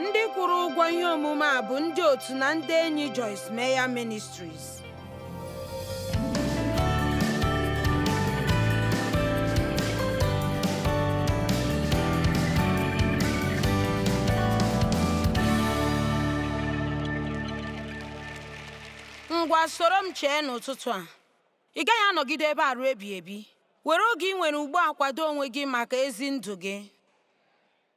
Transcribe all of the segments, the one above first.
ndị kwụrụ ụgwọ ihe omume a bụ ndị otu na ndị enyi Joyce Meyer Ministries ngwa soro m chee n'ụtụtụ a Ị gaghị anọgide ebe a ruo ebighị ebi. Were oge ị nwere ugbu a kwado onwe gị maka ezi ndụ gị.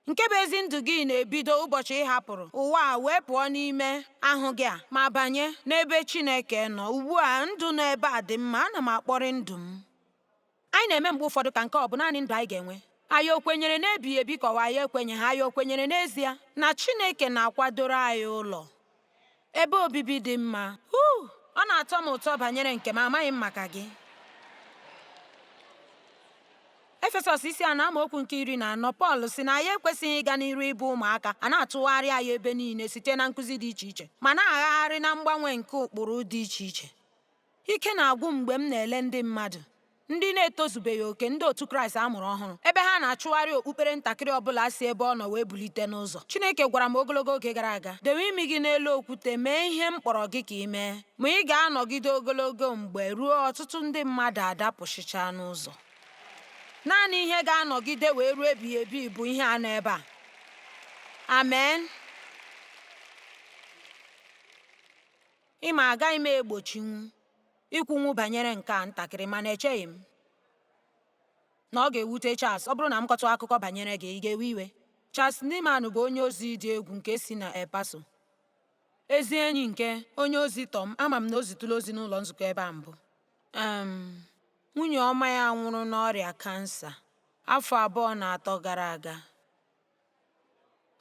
Nke bụ ezi ndụ gị na-ebido ụbọchị ị hapụrụ ụwa a wee pụọ n'ime ahụ gị a ma banye n'ebe Chineke nọ. Ugbu a ndụ nọ ebe a dị mma, ana m akpọrị ndụ m. Anyị na-eme mgbe ụfọdụ ka nke ọ bụ naanị ndụ anyị ga-enwe. Anyị o kwenyere n'ebighị ebi ka ọ bụ anyị ekwenyeghị, anyị o kwenyere n'ezie na Chineke na-akwadoro anyị ụlọ? Ebe obibi dị mma. Huu! Ọ na-atọ m ụtọ banyere nke m, amaghị m maka gị. Efesọs isi anọ amaokwu nke iri na anọ Pọl sị na anyị ekwesịghị ịga n'iru ịbụ ụmụaka a na-atụgharị anyị ebe niile site na nkụzi dị iche iche ma na-agagharị na mgbanwe nke ụkpụrụ dị iche iche. Ike na-agwụ m mgbe m na-ele ndị mmadụ ndị na-etozubeghị oke ndị otu Kraịst a mụrụ ọhụrụ ebe ha na-achụgharị okpukpere ntakịrị ọ bụla si ebe ọ nọ wee bulite n'ụzọ. Chineke gwara m ogologo oge gara aga, dewe imi gị n'elu okwute, mee ihe m kpọrọ gị ka ị mee, ma ị ga-anọgide ogologo mgbe ruo ọtụtụ ndị mmadụ adapụsịchaa n'ụzọ. Naanị ihe ga-anọgide wee ruo ebighị ebi bụ ihe a nọ ebe a. Amen. Ị ma, agaghị m egbochinwu ikwunwu banyere nke a ntakịrị, mana echeghị m na ọ ga-ewute Charles. Ọ bụrụ na m kọtụ akụkọ banyere gị, ị ga-ewe iwe? Charles Nieman bụ onye ozi dị egwu nke si na El Paso, ezi enyi nke onye ozi Tom. Ama m na o zitụla ozi n'ụlọ nzukọ ebe a mbụ. Um, nwunye ọma ya nwụrụ n'ọrịa kansa afọ abụọ na atọ gara aga.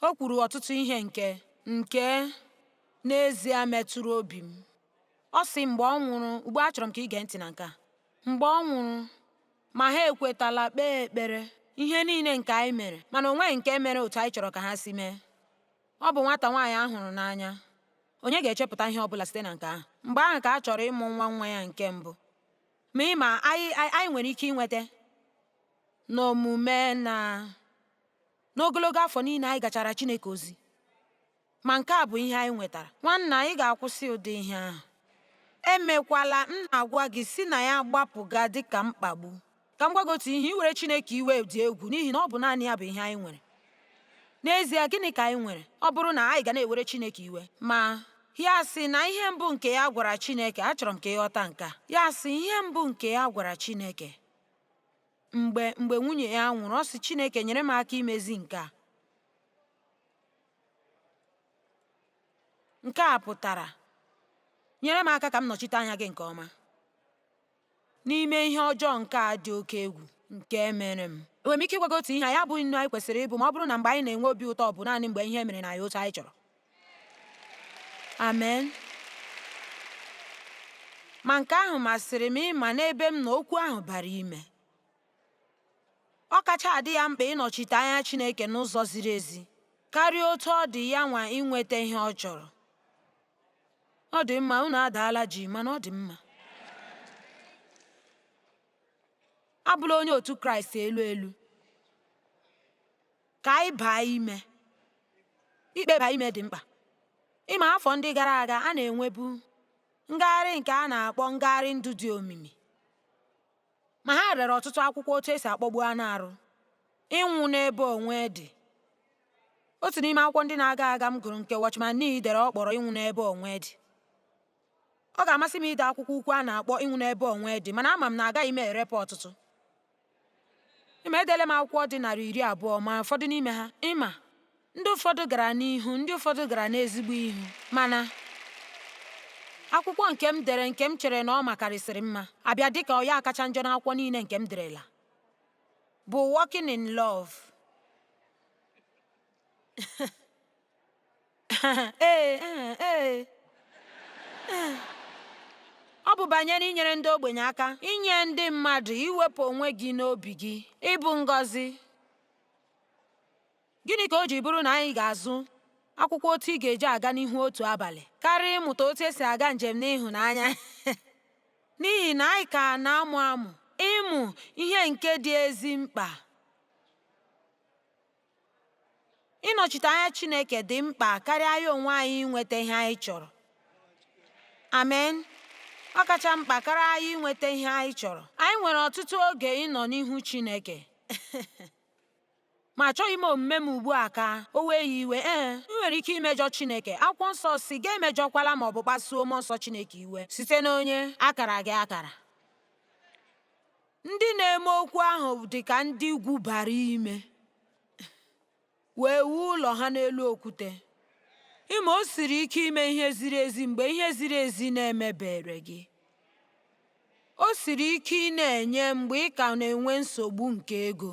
O kwuru ọtụtụ ihe nke nke n'ezie metụrụ obi m. Ọ sị mgbe ọ nwụrụ, ugbu a achọrọ m ka ị gee ntị na nke a. Mgbe ọ nwụrụ, ma ha ekwetala kpee ekpere ihe niile nke anyị mere, mana o nweghị nke mere otu anyị chọrọ ka ha si mee. Ọ bụ nwata nwaanyị a hụrụ n'anya. Onye ga-echepụta ihe ọ bụla site na nke ahụ? Mgbe ahụ ka a chọrọ ịmụ nwa nwa ya nke mbụ. Ma ị ma, anyị nwere ike inweta n'omume na N'ogologo afọ niile anyị gachara Chineke ozi, ma nke a bụ ihe anyị nwetara. Nwanna, anyị ga-akwụsị ụdị ihe ahụ. Emekwala, m na-agwa gị, si na ya gbapụga dị ka mkpagbu. Ka m gwa gị otu ihe, iwere Chineke iwe dị egwu n'ihi na ọ bụ naanị ya bụ ihe anyị nwere. N'ezie, gịnị ka anyị nwere? Ọ bụrụ na anyị ga na-ewere Chineke iwe, ma ya sị na ihe mbụ nke ya gwara Chineke, achọrọ m ka ị ghọta nke a, ya sị ihe mbụ nke ya gwara Chineke, mgbe nwunye ya nwụrụ ọ sị Chineke nyere m aka imezi nke a nke a pụtara nyere m aka ka m nọchite anya gị nke ọma n'ime ihe ọjọọ nke a dị oke egwu nke mere m enwere m ike ịgwa gị otu ihe anyị abụghị nnu anyị kwesịrị ịbụ ma ọ bụrụ na mgbe anyị na-enwe obi ụtọ bụ naanị mgbe ihe mere naanị otu anyị chọrọ Amen. Ma nke ahụ masịrị m ị ma n'ebe m nọ okwu ahụ bara ime. Ọ kacha adị ya mkpa ịnọchite anya Chineke n'ụzọ ziri ezi karịa otu ọ dị ya nwa inweta ihe ọ chọrọ. Ọ dị mma, unu adaala jii, mana ọ dị mma. Abụla onye otu Kraịst elu elu. Ka anyị baa ime. Ikpeba ime dị mkpa. Ị ma, afọ ndị gara aga, a na-enwebu ngagharị nke a na-akpọ ngagharị ndụ dị omimi. Ma ha rere ọtụtụ akwụkwọ otu esi akpọgbu anụ arụ, ịnwụ n'ebe onwe dị. Otu n'ime akwụkwọ ndị na-aga aga m gụrụ nke Watchman Nee dere ọ kpọrọ ịnwụ n'ebe onwe dị. Ọ ga-amasị m ide akwụkwọ ukwu a na-akpọ ịnwụ n'ebe onwe dị, mana ama m na agaghị m erepụ ọtụtụ. ị ma edele m akwụkwọ dị narị iri abụọ ma ụfọdụ n'ime ha ị ma ndị ụfọdụ gara n'ihu ndị ụfọdụ gara n'ezigbo ihu mana akwụkwọ nke m dere nke m chere na ọ makarịsịrị mma abịa dịka ọ ya kacha njọ n'akwụkwọ niile nke m derela bụ Walking in Love Ọ bụ banyere inyere ndị ogbenye aka, inye ndị mmadụ, iwepụ onwe gị n'obi gị, ịbụ ngọzi. Gịnị ka o ji bụrụ na anyị ga-azụ akwụkwọ otu ị ga-eji aga n'ihu otu abalị karịa ịmụta otu esi aga njem n'ịhụnanya? N'ihi na anyị ka na-amụ amụ ịmụ ihe nke dị ezi mkpa. Ịnọchite anya Chineke dị mkpa karịa anyị onwe anyị inweta ihe anyị chọrọ. Amen. Ọ kacha mkpa karịa anyị inweta ihe anyị chọrọ. Anyị nwere ọtụtụ oge ịnọ n'ihu Chineke. ma achọghị m omume m ugbu a ka o wee ya iwe ee i nwere ike imejọ Chineke akwụkwọ nsọ sị gị emejọkwala ma ọ bụ kpasuo mmụọ nsọ Chineke iwe site n'onye a kara gị akara Ndị na-eme okwu ahụ dị ka ndị gwubara ime wee wuo ụlọ ha n'elu okwute. Ị ma o siri ike ime ihe ziri ezi mgbe ihe ziri ezi na-emebere gị. O siri ike ịna-enye mgbe ị ka na-enwe nsogbu nke ego.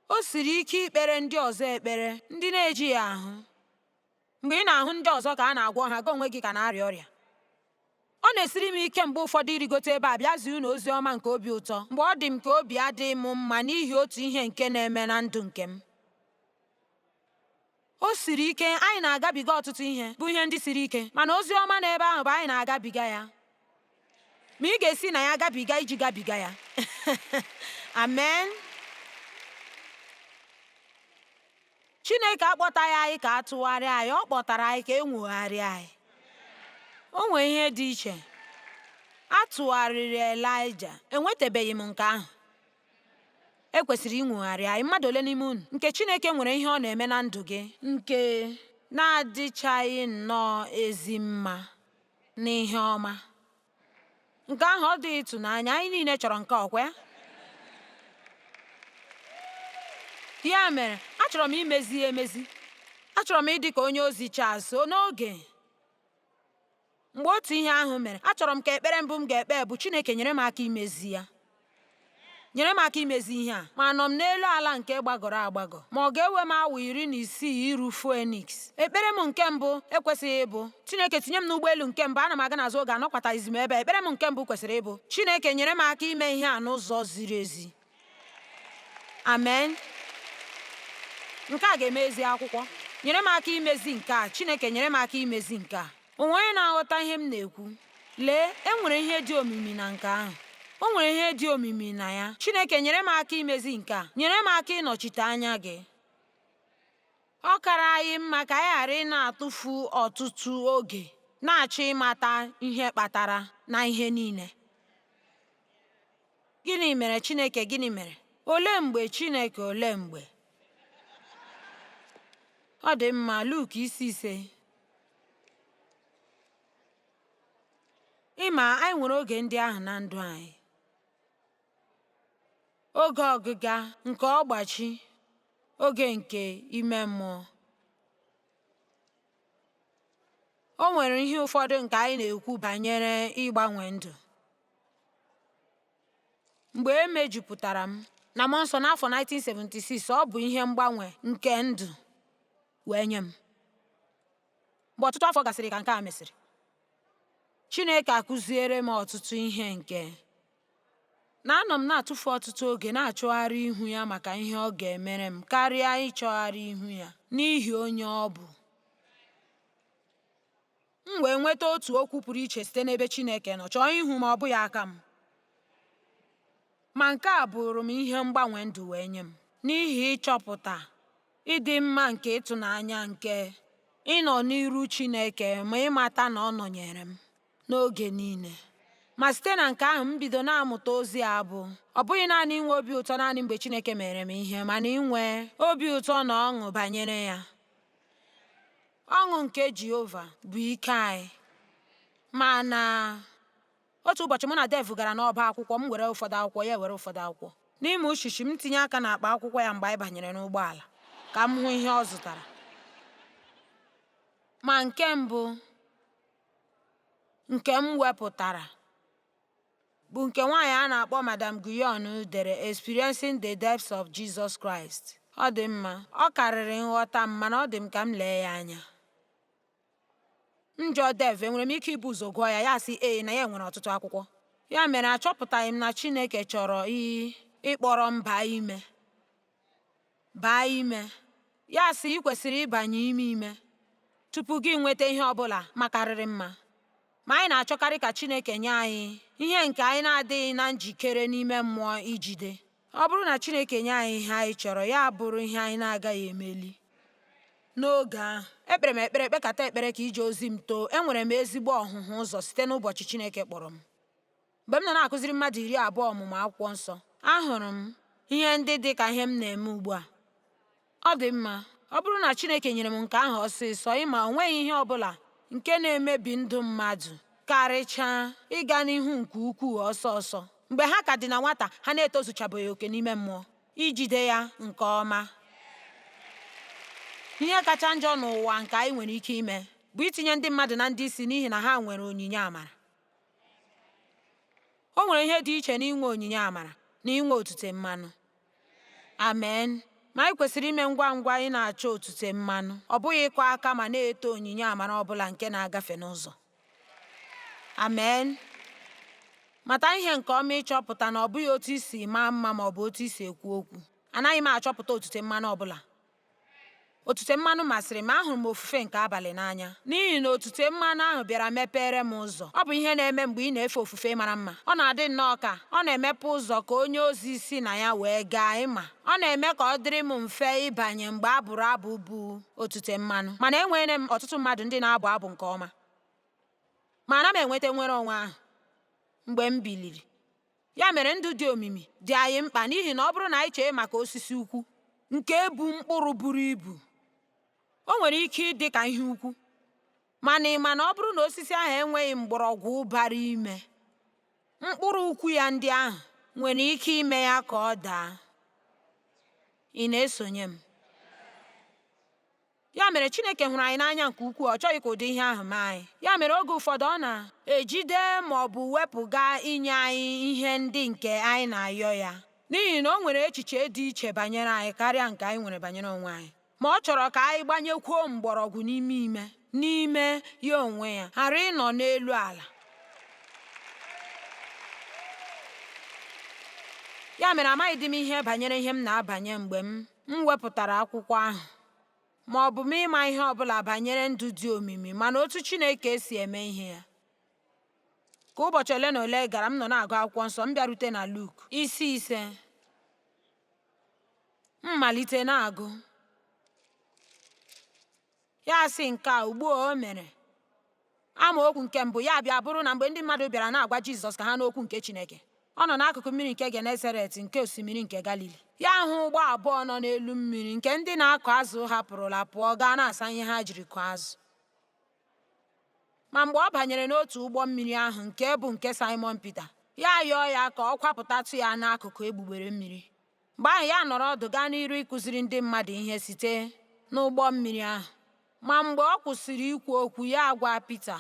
O siri ike ikpere ndị ọzọ ekpere ndị na-ejighị ahụ. Mgbe ị na-ahụ ndị ọzọ ka a na-agwọ ha, gị onwe gị ka na-arịa ọrịa. Ọ na-esiri m ike mgbe ụfọdụ ịrịgote ebe a bịa zie unu ozi ọma nke obi ụtọ mgbe ọ dị m ka obi adịghị m mma n'ihi otu ihe nke na-eme na ndụ nke m. O siri ike, anyị na-agabiga ọtụtụ ihe, bụ ihe ndị siri ike, mana ozi ọma n'ebe ahụ bụ anyị na-agabiga ya. Ma ị ga-esi na ya gabiga iji gabiga ya. Amen. Chineke akpọtaghị anyị ka a tụgharịa anyị, ọ kpọtara anyị ka e nwogharịa anyị. O nwere ihe dị iche. A tụgharịrị Elaịja, enwetabeghị m nke ahụ. E kwesịrị inwogharị anyị. Mmadụ ole n'ime unu nke Chineke nwere ihe ọ na-eme na ndụ gị nke na-adịchaghị nnọọ ezi mma? n'ihe ọma. Nke ahụ ọ dị ịtụnanya? Anyị niile chọrọ nke ọkwa ya. Ya mere, achọrọ m imezi ya emezi. Achọrọ m ịdị ka onye ozi Charles n'oge mgbe otu ihe ahụ mere. Achọrọ m ka ekpere mbụ m ga-ekpe bụ Chineke nyere m aka imezi ya. nyere m aka imezi ihe a, ma anọ m n'elu ala nke gbagọrọ agbagọ. Ma ọ ga-ewe m awa iri na isii iru Phoenix. Ekpere m nke mbụ ekwesịghị ịbụ, Chineke, tinye m n'ụgbọelu nke mbụ, ana m aga n'azụ oge anọkwataghịzi m ebe a. Ekpere m nke mbụ kwesịrị ịbụ, Chineke, nyere m aka ime ihe a n'ụzọ ziri ezi. Amen. Nke a ga-eme ezi akwụkwọ. Nyere m aka imezi nke a, Chineke, nyere m aka imezi nke a. O nwere onye na-aghọta ihe m na-ekwu? Lee, e nwere ihe dị omimi na nke ahụ. O nwere ihe dị omimi na ya. Chineke, nyere m aka imezi nke a. Nyere m aka ịnọchite anya gị. Ọ kara anyị mma ka anyị ghara ịna-atụfu ọtụtụ oge na-achọ ịmata ihe kpatara na ihe niile. Gịnị mere Chineke? Gịnị mere? Olee mgbe Chineke? Olee mgbe? Ọ dị mma, Luk isi ise. Ị ma, anyị nwere oge ndị ahụ na ndụ anyị. Oge ọgịga nke ọgbachi, oge nke ime mmụọ. O nwere ihe ụfọdụ nke anyị na-ekwu banyere ịgbanwe ndụ. Mgbe e mejupụtara m na mmụọ nsọ n'afọ 1976, ọ bụ ihe mgbanwe nke ndụ wee nye m. Mgbe ọtụtụ afọ gasịrị ka nke a mesịrị, Chineke akụziere m ọtụtụ ihe nke na anọ m na-atụfu ọtụtụ oge na-achọgharị ihu ya maka ihe ọ ga-emere m karịa ịchọgharị ihu ya n'ihi onye ọ bụ. M wee nweta otu okwu pụrụ iche site n'ebe Chineke nọ, chọọ ihu m ọ bụghị aka m. Ma nke a bụụrụ m ihe mgbanwe ndụ wee nye m, n'ihi ịchọpụta ịdị mma nke ịtụnanya nke ịnọ n'iru Chineke ma ịmata na ọ nọnyere m n'oge niile. Ma site na nke ahụ, m bido na-amụta ozi a bụ ọ bụghị naanị inwe obi ụtọ naanị mgbe Chineke mere m ihe, mana inwe obi ụtọ na ọṅụ banyere ya. Ọṅụ nke Jehova bụ ike anyị, ma na Otu ụbọchị mụ na Dave gara n'ọba akwụkwọ, m were ụfọdụ akwụkwọ, ya were ụfọdụ akwụkwọ. N'ime uchichi m tinye aka n'akpa akwụkwọ ya mgbe anyị banyere n'ụgbọala ka m hụ ihe ọ zụtara. Ma nke mbụ nke m wepụtara bụ nke nwaanyị a na-akpọ Madam Guyon dere Experiencing the Depths of Jesus Christ. Ọ dị mma, ọ karịrị nghọta m mana ọ dị m ka m lee ya anya. M jụọ Dave, enwere m ike ibu ụzọ gụọ ya, ya sị ee na ya nwere ọtụtụ akwụkwọ. Ya mere achọpụtaghị m na Chineke chọrọ ịkpọrọ m baa ime. Baa ime. Ya sị ị kwesịrị ịbanye ime ime tupu gị enweta ihe ọ bụla makarịrị mma. Ma anyị na-achọkarị ka Chineke nye anyị ihe nke anyị na-adịghị na njikere n'ime mmụọ ijide. Ọ bụrụ na Chineke nye anyị ihe anyị chọrọ, ya bụrụ ihe anyị na-agaghị emeli n'oge ahụ. Ekpere m ekpere kpekata ekpere ka ije ozi m too. Enwere m ezigbo ọhụhụ ụzọ site n'ụbọchị Chineke kpọrọ m. Mgbe m nọ na-akụziri mmadụ iri abụọ ọmụmụ akwụkwọ nsọ, ahụrụ m ihe ndị dị ka ihe m na-eme ugbu a. Ọ dị mma, ọ bụrụ na Chineke nyere m nke ahụ ọsịsọ, ị ma, o nweghị ihe ọ bụla nke na-emebi ndụ mmadụ karịchaa ịga n'ihu nke ukwuu ọsọ ọsọ. Mgbe ha ka dị na nwata, ha na-etozuchabeghị oke n'ime mmụọ ijide ya nke ọma. Ihe kacha njọ n'ụwa nke anyị nwere ike ime bụ itinye ndị mmadụ na ndị isi n'ihi na ha nwere onyinye amara. O nwere ihe dị iche n'inwe onyinye amara na inwe otute mmanụ. Amen. Ma anyị kwesịrị ime ngwa ngwa ịna-achọ otute mmanụ, ọ bụghị ịkụ aka ma na-eto onyinye amara ọ bụla nke na-agafe n'ụzọ. Amen. Mata ihe nke ọma ịchọpụta na ọ bụghị otu i si maa mma ma ọ bụ otu i si ekwu okwu. Anaghị m achọpụta otute mmanụ ọ bụla. Otute mmanụ masịrị m, ahụrụ m ofufe nke abalị n'anya n'ihi na otute mmanụ ahụ bịara mepere m ụzọ. Ọ bụ ihe na-eme mgbe ị na-efe ofufe mara mma. Ọ na-adị nnọọ ka ọ na-emepe ụzọ ka onye ozi si na ya wee gaa. Ị ma, ọ na-eme ka ọ dịrị m mfe ịbanye mgbe a bụrụ abụ bu otute mmanụ. Mana enwere m ọtụtụ mmadụ ndị na-abụ abụ nke ọma. Ma ana m enweta nnwere onwe ahụ mgbe m biliri. Ya mere ndụ dị omimi dị anyị mkpa n'ihi na ọ bụrụ na anyị chee maka osisi ukwu nke bu mkpụrụ buru ibu o nwere ike ịdị ka ihe ukwu mana ị ma na ọ bụrụ na osisi ahụ enweghị mgbọrọgwụ bara ime mkpụrụ ukwu ya ndị ahụ nwere ike ime ya ka ọ daa ị na-esonye m Ya mere, Chineke hụrụ anyị n'anya nke ukwuu, ọ chọghị ka ụdị ihe ahụ mee anyị. Ya mere, oge ụfọdụ ọ na-ejide ma ọ bụ wepụga inye anyị ihe ndị nke anyị na-ayọ ya, n'ihi na o nwere echiche dị iche banyere anyị karịa nke anyị nwere banyere onwe anyị. Ma ọ chọrọ ka anyị gbanyekwuo mgbọrọgwụ n'ime ime n'ime ya onwe ya, ghara ịnọ n'elu ala. Ya mere, amaghịdị m ihe banyere ihe m na-abanye mgbe m M wepụtara akwụkwọ ahụ. Ma ọ bụ m ịma ihe ọ bụla banyere ndụ dị omimi mana otu Chineke si eme ihe ya. Ka ụbọchị ole na ole gara, m nọ na-agụ akwụkwọ nsọ, m bịarute na Luk isi ise. M malite na-agụ. Ya asị nke a ugbu a o mere. Amaokwu nke mbụ ya bịa bụrụ na mgbe ndị mmadụ bịara na-agwa Jizọs ka ha nụ okwu nke Chineke, ọ nọ n'akụkụ mmiri nke Genesaret nke osimiri nke Galili. Ya ahụ ụgbọ abụọ nọ n'elu mmiri nke ndị na-akụ azụ hapụrụla pụọ gaa na-asa ihe ha jiri kụọ azụ. Ma mgbe ọ banyere n'otu ụgbọ mmiri ahụ nke bụ nke Saịmọn Pita, ya yọọ ya ka ọ kwapụtatụ ya n'akụkụ egbugbere mmiri. Mgbe ahụ ya anọrọ ọdụ gaa n'iru ịkụziri ndị mmadụ ihe site n'ụgbọ mmiri ahụ. Ma mgbe ọ kwụsịrị ikwu okwu, ya agwa Pita,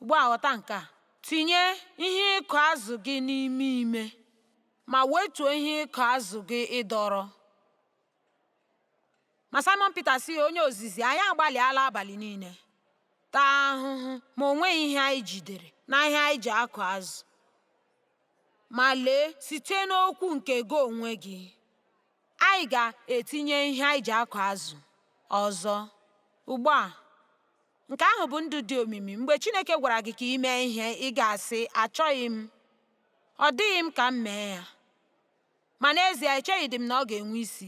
Ugbu a ghọta nke a, tinye ihe ịkụ azụ gị n'ime ime, ma wetuo ihe ịkụ azụ gị ịdọrọ. Ma Simon Pita sị ya, Onye ozizi, anyị agbalịala abalị niile taa ahụhụ ma o nweghị ihe anyị jidere na ihe anyị ji akụ azụ. Ma lee, site n'okwu nke gị onwe gị, anyị ga-etinye ihe anyị ji akụ azụ ọzọ. Ugbu a, nke ahụ bụ ndụ dị omimi. Mgbe Chineke gwara gị ka i mee ihe, ị ga-asị, Achọghị m. Ọ dịghị m ka m mee ya. Ma n'ezie, echeghịdị m na ọ ga-enwe isi.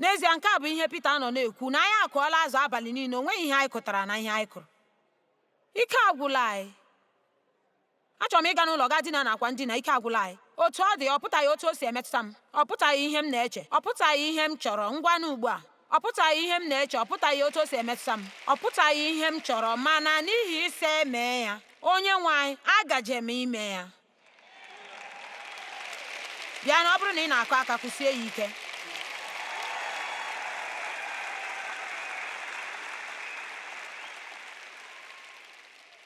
N'ezie, nke a bụ ihe Pita nọ na-ekwu, na anyị akụọla azụ abalị niile, o nweghị ihe anyị kụtara na ihe anyị kụrụ. Ike agwụla anyị. Achọrọ m ịga n'ụlọ gaa dina n'akwa ndina, ike agwụla anyị. Otu ọ dị, ọ pụtaghị otu o si emetụta m. Ọ pụtaghị ihe m na-eche. Ọ pụtaghị ihe m chọrọ. Ngwanụ ugbu a. Ọ pụtaghị ihe m na-eche. Ọ pụtaghị otu o si emetụta m. Ọ pụtaghị ihe m chọrọ. Mana n'ihi ị sị e mee ya. Onyenwe anyị, agaje m ime ya. Bịanụ, ọ bụrụ na ị na-akụ aka, kụsie ya ike.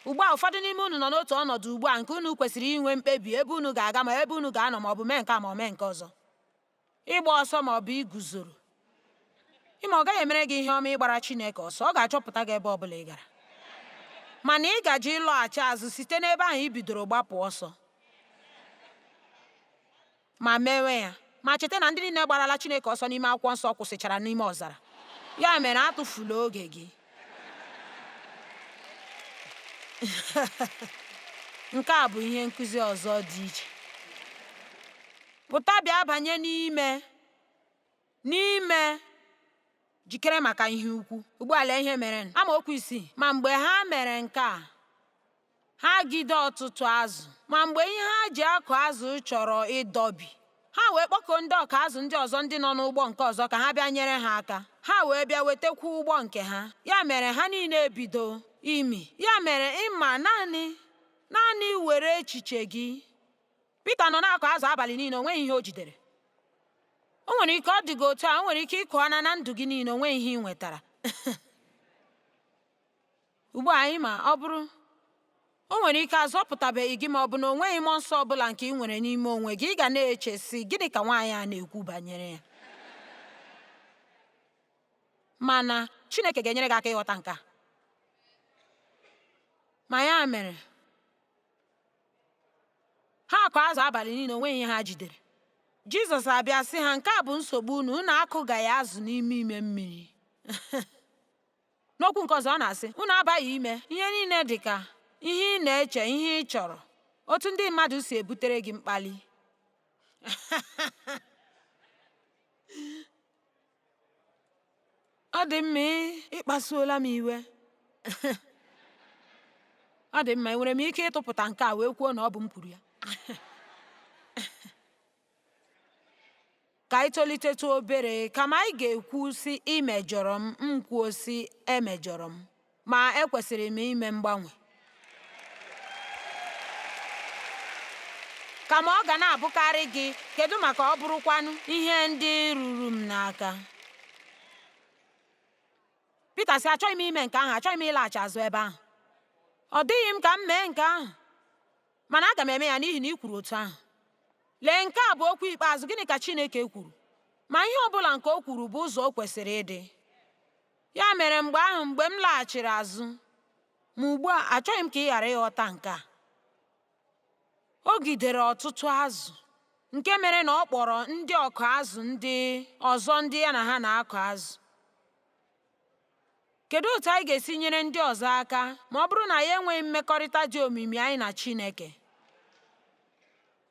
Ugbu a, ụfọdụ n'ime unu nọ n'otu ọnọdụ ugbu a nke unu kwesịrị inwe mkpebi ebe unu ga-aga ma ebe unu ga-anọ ma ọ bụ mee nke a ma ọ mee nke ọzọ, ịgba ọsọ ma ọ bụ iguzoro. Ịma ọ gaghị emere gị ihe ọma ịgbara Chineke ọsọ, ọ ga-achọpụta gị ebe ọ bụla ị gara. Mana ị gaje ịlọghachi azụ site n'ebe ahụ i bidoro gbapụ ọsọ. ma mewe ya. Ma cheta na ndị niile gbarala Chineke ọsọ n'ime akwụkwọ nsọ kwụsịchara n'ime ọzara. Ya mere atụfula oge gị. Nke a bụ ihe nkụzi ọzọ dị iche. Pụta bịa banye n'ime. N'ime jikere maka ihe ukwu. Ugbu a lee ihe mere. Amaokwu isii. Ma mgbe ha mere nke a, ha gide ọtụtụ azụ. Ma mgbe ihe ha ji akụ azụ chọrọ ịdọbi, ha wee kpọkuo ndị ọkụ azụ ndị ọzọ ndị nọ n'ụgbọ nke ọzọ ka ha bịa nyere ha aka. Ha wee bịa wetakwu ụgbọ nke ha. Ya mere ha niile ebido imi. Ya mere ịma naanị naanị were echiche gị Pita nọ na-akụ azụ abalị niile o nweghị ihe o jidere o nwere ike ọ dị gị otu a o nwere ike ị kụọna na ndụ gị niile o nweghị ihe ị nwetara ugbu a anyị ma ọ bụrụ o nwere ike azọpụtabeghị gị ma ọ bụ na o nweghị mmụọ nsọ ọ bụla nke ị nwere n'ime onwe gị ị ga na-eche sị gịnị ka nwaanyị a na-ekwu banyere ya mana Chineke ga-enyere gị aka ịghọta nke a ma ya mere ha akụ azụ abalị niile o nweghị ihe ha jidere jizọs abịa sị ha nke a bụ nsogbu unu unu akụgaghị azụ n'ime ime mmiri n'okwu nke ọzọ ọ na-asị unu abaghị ime ihe niile dị ka ihe ị na-eche ihe ị chọrọ otu ndị mmadụ si ebutere gị mkpali Ọ dị mma ị kpasuola m iwe? Ọ dị mma, enwere m ike ịtụpụta nke a wee kwuo na ọ bụ m kwuru ya? Ka anyị tolitetụ obere, kama anyị ga-ekwu, sị, I mejọrọ m, m kwuo, sị, Emejọrọ m. Ma ekwesịrị m ime mgbanwe. Kama ọ ga na-abụkarị gị, kedu maka ọ bụrụkwanụ ihe ndị ruru m n'aka? Pita sị, achọghị m ime nke ahụ, achọghị m ịlaghachi azụ ebe ahụ. Ọ dịghị m ka m mee nke ahụ, mana aga m eme ya n'ihi na ị kwuru otu ahụ. Lee, nke a bụ okwu ikpeazụ, gịnị ka Chineke kwuru? Ma ihe ọ bụla nke o kwuru bụ ụzọ o kwesịrị ịdị. Ya mere mgbe ahụ mgbe m laghachiri azụ, ma ugbu a achọghị m ka ị ghara ịghọta nke a. O gidere ọtụtụ azụ nke mere na ọ kpọrọ ndị ọkụ azụ ndị ọzọ ndị ya na ha na-akụ azụ. Kedu otu anyị ga-esi nyere ndị ọzọ aka ma ọ bụrụ na anyị enweghị mmekọrịta dị omimi anyị na Chineke?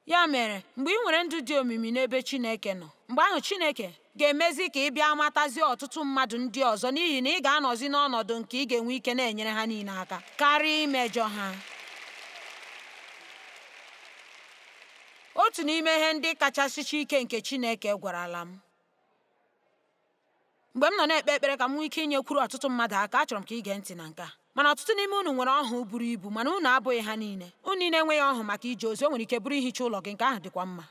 Ya mere, mgbe ị nwere ndụ dị omimi n'ebe Chineke nọ, mgbe ahụ Chineke ga-emezi ka ị bịa matazie ọtụtụ mmadụ ndị ọzọ n'ihi na ị ga-anọzi n'ọnọdụ nke ị ga-enwe ike na-enyere ha niile aka karịa imejọ ha. Otu n'ime ihe ndị kachasị ike nke Chineke gwarala m Mgbe m nọ na-ekpe ekpere ka m nwee ike inyekwuru ọtụtụ mmadụ aka, achọrọ m ka ị gee ntị na nke a. Mana ọtụtụ n'ime unu nwere ọhụụ buru ibu, mana unu abụghị ha niile. Unu niile enweghị ọhụụ maka ije ozi, o nwere ike bụrụ ihicha ụlọ gị, nke ahụ dịkwa mma.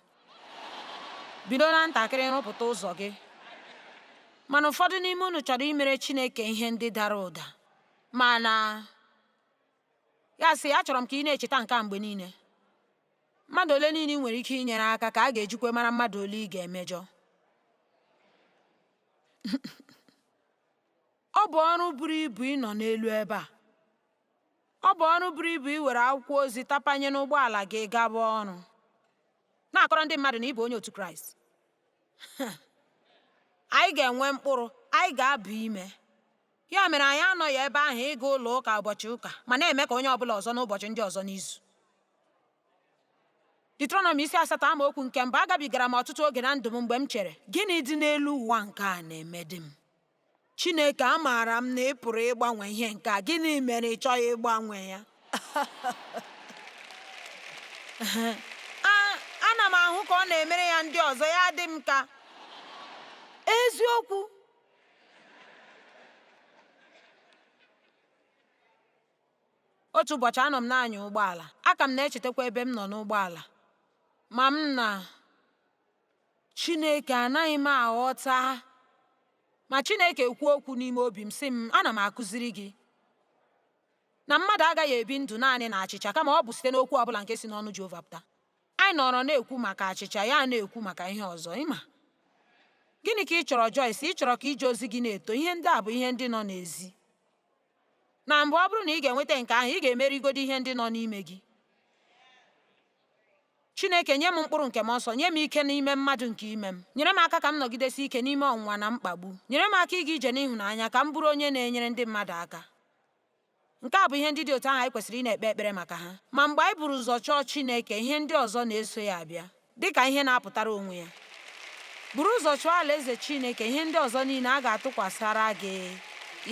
Bido na ntakịrị rụpụta ụzọ gị. Mana ụfọdụ n'ime unu chọrọ imere Chineke ihe ndị dara ụda. Mana Ya sị, achọrọ m ka ị na-echeta nke a mgbe niile. Mmadụ ole niile ị nwere ike inyere aka ka a ga-ejikwa mara mmadụ ole ị ga-emejọ. Ọ bụ ọrụ buru ibu ịnọ n'elu ebe a. Ọ bụ ọrụ buru ibu iwere akwụkwọ ozi tapanye n'ụgbọala gị gaba ọrụ, na-akọrọ ndị mmadụ na ị bụ onye otu Kraịst. Anyị ga-enwe mkpụrụ, anyị ga-aba ime. Ya mere anyị anọghị ebe ahụ ịga ụlọ ụka ụbọchị ụka ma na-eme ka onye ọbụla ọzọ n'ụbọchị ndị ọzọ n'izu. Deuteronomy isi asatọ amaokwu nke mbụ agabigara m ọtụtụ oge na ndụ m mgbe m chere gịnị dị n'elu ụwa nke a na-emedị m Chineke amaara m na ị pụrụ ịgbanwe ihe nke a gịnị mere ị chọghị ịgbanwe ya ana m ahụ ka ọ na-emere ya ndị ọzọ ya dị m ka eziokwu otu ụbọchị anọ m na-anya ụgbọala aka m na-echetakwa ebe m nọ n'ụgbọala ma m na Chineke anaghị m aghọta ma Chineke kwuo okwu n'ime obi m sị m ana m akụziri gị na mmadụ agaghị ebi ndụ naanị na achịcha kama ọ bụ site n'okwu ọbụla nke si n'ọnụ Jehova pụta Anyị nọrọ na-ekwu maka achịcha, ya na-ekwu maka ihe ọzọ. Ị ma, gịnị ka ị chọrọ Joyce? Ị chọrọ ka ije ozi gị na-eto? Ihe ndị a bụ ihe ndị nọ n'ezi. Na mbụ, ọ bụrụ na ị ga-enweta nke ahụ, ị ga-emerigodo ihe ndị nọ n'ime gị. Chineke, nye m mkpụrụ nke mmụọ nsọ, nye m ike n'ime mmadụ nke ime m. Nyere m aka ka m nọgidesi ike n'ime ọnwụnwa na mkpagbu. Nyere m aka ịga ije n'ịhụnanya ka m bụrụ onye na-enyere ndị mmadụ aka. Nke a bụ ihe ndị dị otu ahụ anyị kwesịrị ịna-ekpe ekpere maka ha. Ma mgbe anyị buru ụzọ chọọ Chineke, ihe ndị ọzọ na-eso ya abịa, dị ka ihe na-apụtara onwe ya. Buru ụzọ chọọ Alaeze Chineke, ihe ndị ọzọ niile a ga-atụkwasara gị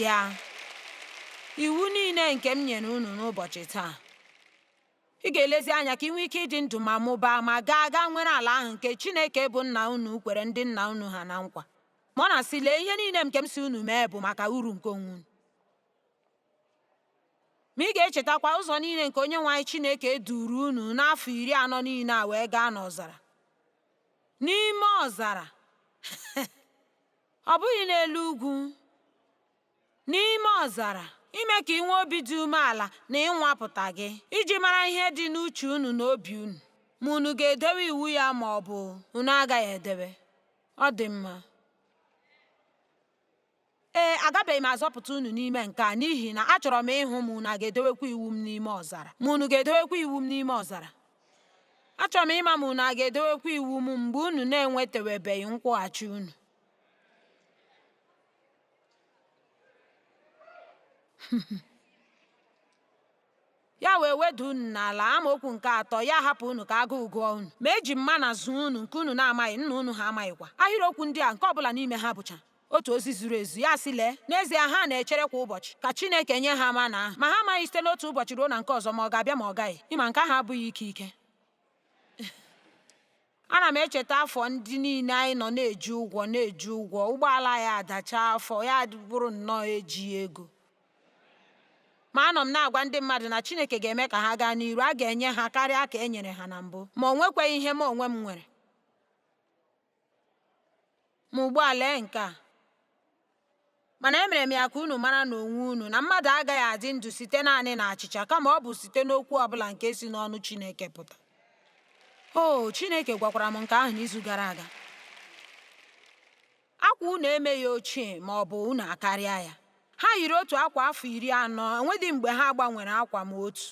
ya. Iwu niile nke m nyere unu n'ụbọchị taa. Ị ga-elezi anya ka ị nwee ike ịdị ndụ ma mụbaa ma gaa gaa nwere ala ahụ nke Chineke bụ nna unu kwere ndị nna unu ha na nkwa. Ma ọ na-asị, Lee, ihe niile nke m sị unu mee bụ maka uru nke onwe unu. Ma ị ga-echetakwa ụzọ niile nke Onyenwe anyị Chineke duru unu n'afọ iri anọ niile a wee gaa n'ọzara. N'ime ọzara, ọ bụghị n'elu ugwu, n'ime ọzara, ime ka ị nwee obi dị umeala na ịnwapụta gị, iji mara ihe dị n'uche unu na obi unu, ma unu ga-edewe iwu ya ma ọ bụ unu agaghị edewe. Ọ dị mma. Ee, agabeghị m azọpụta unu n'ime nke a, n'ihi na achọrọ m ịhụ ma unu a ga-edewekwa iwu m n'ime ọzara. Ma unu ga-edewekwa iwu m n'ime ọzara. Achọrọ m ịma ma unu a ga-edewekwa iwu m mgbe unu na-enwetawebeghị nkwụghachi unu. Ya wee weda unu n'ala, amaokwu nke atọ, ya hapụ unu ka agụụ gụọ unu. Ma eji m mana zụọ unu nke unu na-amaghị, nna unu ha amaghịkwa. Ahịrịokwu ndị a nke ọ bụla n'ime ha bụcha otu ozi zuru ezu, ya sị, Lee, n'ezie ha na-echere kwa ụbọchị ka Chineke nye ha mana ahụ, ma ha amaghị site n'otu ụbọchị ruo na nke ọzọ ma ọ ga-abịa ma ọ gaghị, ịma nke ahụ abụghị ike ike. Ana m echeta afọ ndị niile anyị nọ na-eji ụgwọ na-eji ụgwọ ụgbọala ya adacha afọ ya bụrụ nnọọ ejighị ego ma anọ m na-agwa ndị mmadụ na Chineke ga-eme ka ha gaa n'iru a ga-enye ha karịa ka e nyere ha na mbụ ma o nwekwaghị ihe m onwe m nwere Ma ugbu a lee nke a. Mana emere m ya ka unu mara n'onwe unu na mmadụ agaghị adị ndụ site naanị na achịcha kama ọ bụ site n'okwu ọbụla nke si n'ọnụ Chineke pụta. O, Chineke gwakwara m nke ahụ n'izu gara aga. Akwa unu emeghị ochie ma ọ bụ unu akarịa ya. Ha yiri otu akwa afọ iri anọ, enwedị mgbe ha gbanwere akwa ma otu.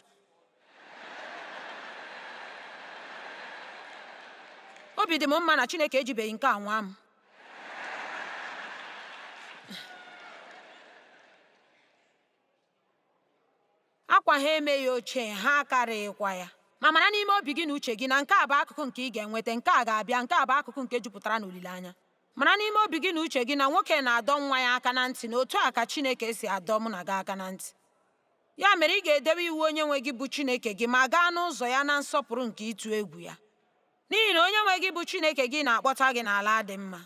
obi dị m mma na Chineke ejibeghị nke a nwaa m akwa ha emeghị ochie ha akarịghịkwa ya ma mara n'ime obi gị na uche gị na nke a bụ akụkụ nke ị ga-enweta nke a ga-abịa nke a bụ akụkụ nke jupụtara n'olileanya mara n'ime obi gị na uche gị na nwoke na-adọ nwa ya aka na ntị na otu a ka Chineke si adọ mụ na gị aka na ntị Ya mere, ị ga-edebe iwu Onyenwe gị bụ Chineke gị ma gaa n'ụzọ ya na nsọpụrụ nke ịtụ egwu ya. N'ihi na Onyenwe gị bụ Chineke gị na-akpọta gị n'ala dị mma,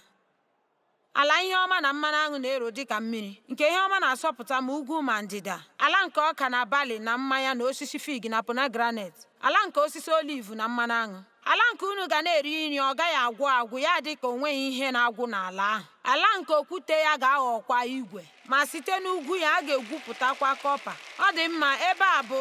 ala ihe ọma na mmanụ aṅụ na-ero dị ka mmiri, nke ihe ọma na-asọpụta ma ugwu ma ndịda, ala nke ọka na bali na mmanya na osisi fig na pomegranet, ala nke osisi oliv na mmanụ aṅụ. Ala nke unu ga na-eri nri ọ gaghị agwụ agwụ ya adị ka o nweghị ihe na-agwụ n'ala ahụ. Ala nke okwute ya ga-aghọkwa igwe, ma site n'ugwu ya a ga-egwupụtakwa kọpa. Ọ dị mma, ebe a bụ.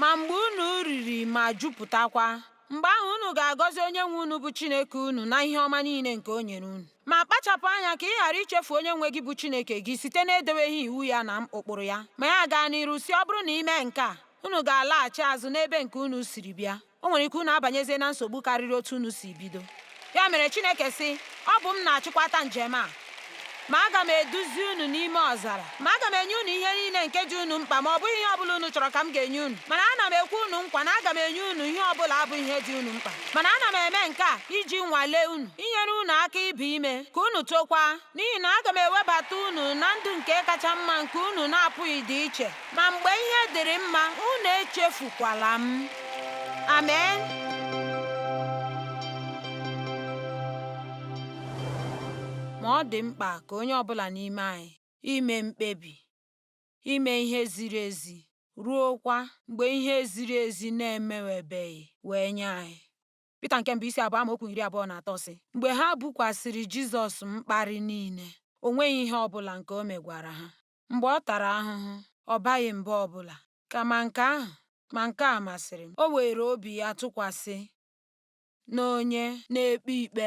Ma mgbe unu riri ma jupụtakwa, mgbe ahụ unu ga-agọzi onye nwe unu bụ Chineke unu na ihe ọma niile nke o nyere unu. Ma kpachapụ anya ka ị ghara ichefu onye nwe gị bụ Chineke gị site n'edeweghị iwu ya na ụkpụrụ ya. Ma ya gaa n'iru sị ọ bụrụ na ị mee nke a, unu ga-alaghachi azụ n'ebe nke unu siri bịa. O nwere ike unu abanyezie na nsogbu karịrị otu unu si bido. Ya mere Chineke sị, Ọ bụ m na-achịkwata njem a, ma aga m eduzi unu n'ime ọzara. Ma aga m enye unu ihe niile nke dị unu mkpa ma ọ bụghị ihe ọbụla unu chọrọ ka m ga-enye unu mana ana m ekwe unu nkwa na aga m enye unu ihe ọbụla bụ ihe dị unu mkpa mana ana m eme nke a iji nwalee unu inyere unu aka ibi ime ka unu tokwa n'ihi na aga m ewebata unu na ndụ nke kacha mma nke unu na-apụghịdị iche ma mgbe ihe dịrị mma unu echefukwala m amen ma ọ dị mkpa ka onye ọbụla n'ime anyị ime mkpebi, ime ihe ziri ezi, ruokwa mgbe ihe ziri ezi na-emewebeghị wee nye anyị. Pita nke mbụ isi abụọ amaokwu iri abụọ na atọ sị mgbe ha bukwasịrị Jizọs mkparị niile o nweghị ihe ọ bụla nke o megwara ha. Mgbe ọ tara ahụhụ, ọ baghị mba ọ bụla, kama nke ahụ, ma nke a masịrị m, o weere obi ya tụkwasị n'onye na-ekpe ikpe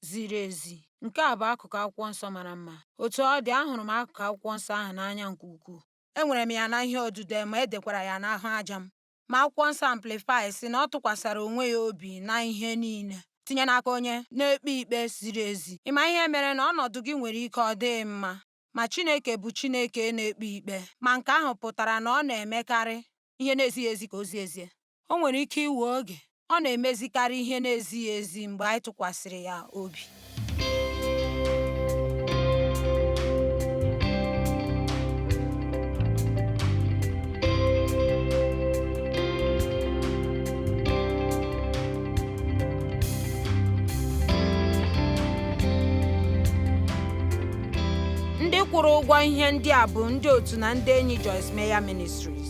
ziri ezi. Nke a bụ akụkụ akwụkwọ nsọ mara mma. Otu ọ dị, ahụrụ m akụkụ akwụkwọ nsọ ahụ n'anya nke ukwuu. Enwere m ya na ihe odide ma e dekwara ya n'ahụ aja m. Ma akwụkwọ nsọ Amplify sị na ọ tụkwasịrị onwe ya obi na ihe niile, tinye n'aka onye na-ekpe ikpe ziri ezi. Ị ma ihe mere na ọnọdụ gị nwere ike ọ dịghị mma? Ma Chineke bụ Chineke na-ekpe ikpe, ma nke ahụ pụtara na ọ na-emekarị ihe na-ezighị ezi ka o zie ezie. O nwere ike iwe oge, ọ na-emezikarị ihe na-ezighị ezi mgbe anyị tụkwasịrị ya obi. ndị kwụrụ ụgwọ ihe ndị a bụ ndị otu na ndị enyi Joyce Meyer Ministries